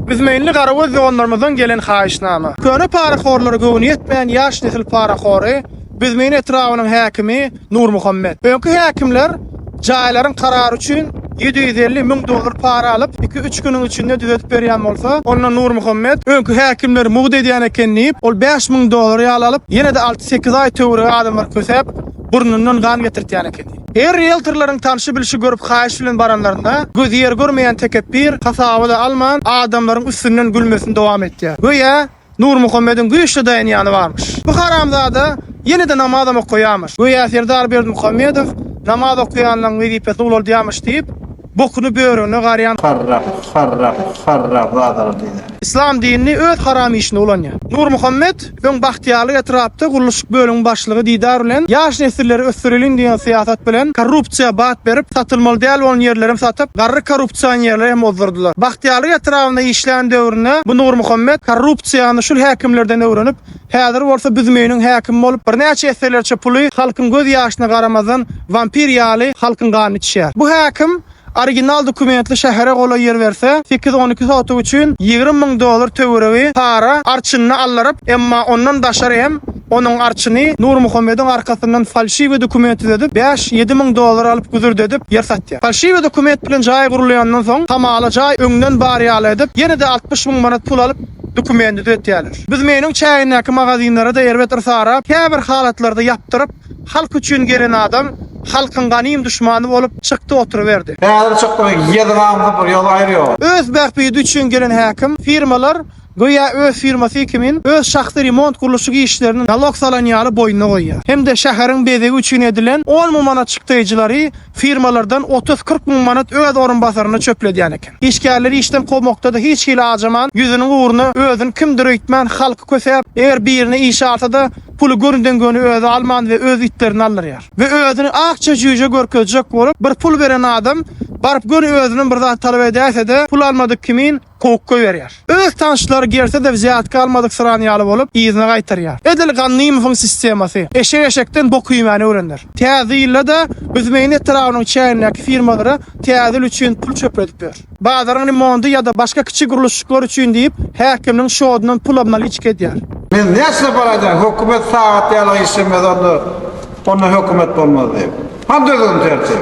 Üzmeýinli garagöz doganlarymyzdan gelen haýyşnama. Köne parahorlara göwni ýetmän ýaş nesil parahory, Büzmeýin etrabynyň häkimi Nurmuhammet. Öňki häkimler jaýlaryň karary üçin ýedi ýüz elli müň dollar para alyp, iki-üç günüň içinde düzedip berýän bolsa, onda Nurmuhammet, öňki häkimler mugt edýän eken diýip, ol bäş müň dollar ýaly alyp, ýene-de alty-sekiz aý töweregi adamlary kösäp, burnundan gan getirtýän eken. Her rieltorlaryň tanşy-bilşi görüp haýyş bilen baranlarynda, gözi ýer görmeýän tekepbir, hasaba-da alman, adamlaryň üstünden gülmesini dowam etýär. Göýä, Nurmuhammediň güýçli daýanýany barmyş. Bu haramzada ýene-de namazam okaýarmyş. Göýä Serdar Berdimuhamedow namaz okaýanlaryň wezipesi ulaldýarmyş diýip, bokuny börüne garýan. Harrak, harrak, harrak zadara diýler. Yslam dinini öz haram işine ulanýar. Nurmuhammet, öň Bagtyýarlyk etrapda gurluşyk bölümiň başlygy Didar bilen ýaş nesilleri ösdüreliň diýen syýasat bilen korrupsiýa bat berip, satylmaly däl bolan ýerleri hem satyp, garry korrupsionerleri hem ozdurdylar. Bagtyýarlyk etrabynda işlän döwründe bu Nurmuhammet korrupsiýany şul häkimlerden öwrenip, Häzir bolsa Büzmeýiniň häkimi bolup, birnäçe esselerçe puly halkyň göz ýaşyna garamazdan, wampir ýaly halkyň ganyny içýär. Bu häkim original dokumentli şähere golaý ýer berse, sekiz-on iki sotuk üçin ýigrimi müň dollar töweregi para arçynyny aldyryp, emma ondan daşary hem onuň arçyny Nurmuhammediň arkasyndan falşiwi dokument düzedip, bäş-ýedi müň dollar alyp güzürdedip ýer satýar. Falşiwi dokument bilen jaý gurulýandan soň, hamala jaý öňden bar ýaly edip, ýene-de altmyş müň manat pul alyp, Dokumenti düzetýärler. Biz Meniň çägindäki magazinlary-da erbet yrsarap, käbir halatlarda ýapdyryp, halk üçin gelen adam halkyň ganym duşmany bolup çykdy oturyberdi. Häzir çykdy ýazygam bir ýola aýyrýar. Öz bähbidi üçin gelen häkim, firmalar göýä öz firmasy kimin öz şahsy remont gurluşyk işlerini nalog salan ýaly boýnuna goýýar. Hem-de şäheriň bezegi üçin edilen on mum manat çykdaýjylary Firmalardan otuz-kyrk müň manat öz orunbasaryna çöpledýän eken. Işgärleri işden kowmakda-da hiç hili ajaman, ýüzüniň ugruna özüni kimdir öýtmän, halky kösäp, eger birini işe alsa-da, puly gönüden-göni özi alman we öz itlerini aldyrýar. We özüni akja jüýje görkezjek bolup, bir pul beren adam baryp göni özünden bir zat talap edäýse-de, pul almadyk kimin, kowuk goýberýär. Öz tanyşlary gelse-de zätki almadyksyran ýaly bolup, yzyna gaýtarýar. Edil Gannymowyň sistemasy. Eşek eşekden bok iýmäni öwrenler. Täze ýylda-da Büzmeýin etrabynyň çägindäki firmalara täze ýyl üçin pul çöpledip ýör. Bazaryň remonty ýa-da başga kiçi gurluşyklar üçin diýip, häkimniň şodundan pul obnaliçka edýär. Men näçe pul aýdaýyn, hökümet sagat ýaly işlemez onda, onda hökümet bolmaz diýip. Hany düzgün-tertip?